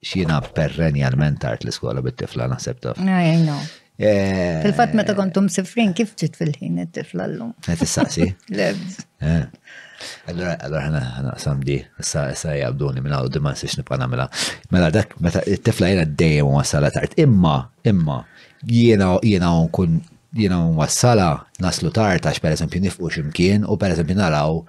X'jiena perrenjalment tard l-iskola bit-tifla naħseb taf. I know. Eh, Fil-fatt meta kontu msifrin kif ġiet fil-ħin it-tifla llum? Qed issaqsi? Lebs. Eh. Allora, allora ħana ħana qasam di, issa issa jabduni minn għawdu ma nsiex nibqa' nagħmilha. Mela dak meta it-tifla jiena dejjem wassala tard. Imma, imma jiena jiena nkun jiena wassala naslu tard għax pereżempju nifqu x'imkien u pereżempju naraw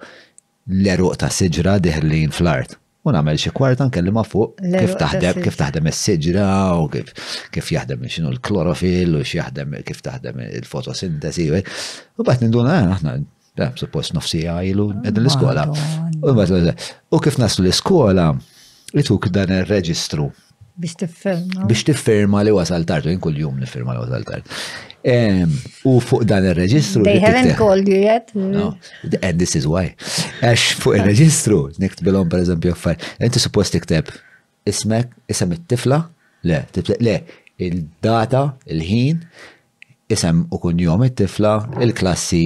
l-għeruq ta' siġra diħlin fl-art u nagħmel xi kwarta nkellimha fuq kif taħdem kif taħdem is-siġra u kif kif jaħdem x'inhu l-klorofil u x'jaħdem kif taħdem il-fotosintesi. U bad ninduna ah, aħna eh, suppost nofsija ilu qegħdin l-iskola. U kif naslu l-iskola, ituk dan ir-reġistru Biex tifferma. Biex tifferma li wasal tard, u kull jum nifferma li wasal tard. U fuq dan il-reġistru. They haven't called you yet. No, and this is why. Għax fuq il-reġistru, niktbilom per eżempju għaffar, inti suppost tikteb ismek, isem it-tifla, le, le, il-data, il-ħin, isem u kun jom it-tifla, il-klassi,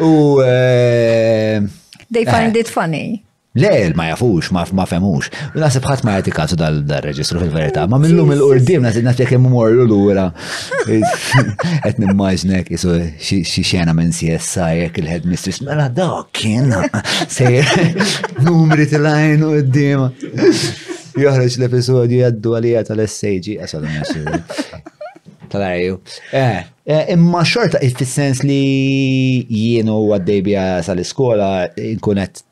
U. Eh, They find eh. it funny. Le, ma jafux, ma femux. Nasib ħat ma jati kasu dal-reġistru fil-verita. Ma minnum il-urdim, nasib nasib jek immur l-lura. Et nimmaġnek, jisu xie xena minn CSI, jek il-head mistress, mela dak kien. Sejr, numri til-lajn u d-dima. Joħroġ l-episodju jaddu għalija tal-SAG, għasal Tal-għajju. Eh, Eh, imma xorta fis-sens li jien u għaddej bija sal-iskola nkun qed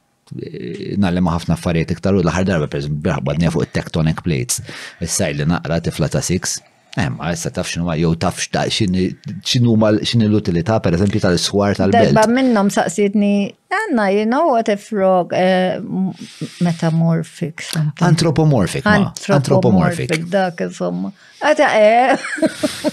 eh, nallima ħafna affarijiet iktar u l-aħħar darba per braħbadni fuq it-tectonic plates. Issa li naqra tifla ta' six. Emma, eh, issa taf xinu jew taf xinu ma xinu l-utilità per eżempju tal-swar tal-belt. Darba minnom saqsidni, Anna, you know what if frog uh, metamorphic? Something. Anthropomorphic, ma. Anthropomorphic. Dak, insomma. Għata, eh.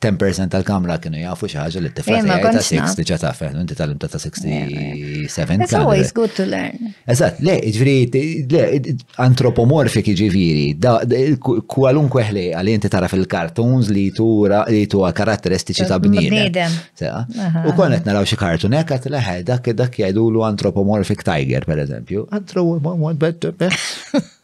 10% tal-kamra kienu jafu xi ħaġa li t-tifla eh, ta' 6 diġà taf, eh, inti tal-imta ta' 67. It's always good to learn. Eżatt, le, ġifieri, le, antropomorfik ġifieri, kwalunkwe ħlej għal inti tara fil-kartons li tura li tuha karatteristiċi ta' bniedem. U kon qed naraw xi kartun hekk qed leħe dak dak jgħidulu antropomorfik tiger pereżempju. Antropomorfik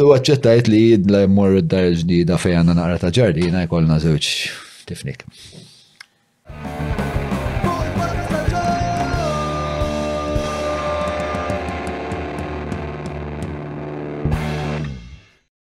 U għacċettajt li jidla jmorru d-dar il-ġdida fej għanna naqra ta' ġardina jkollna żewġ tifnik.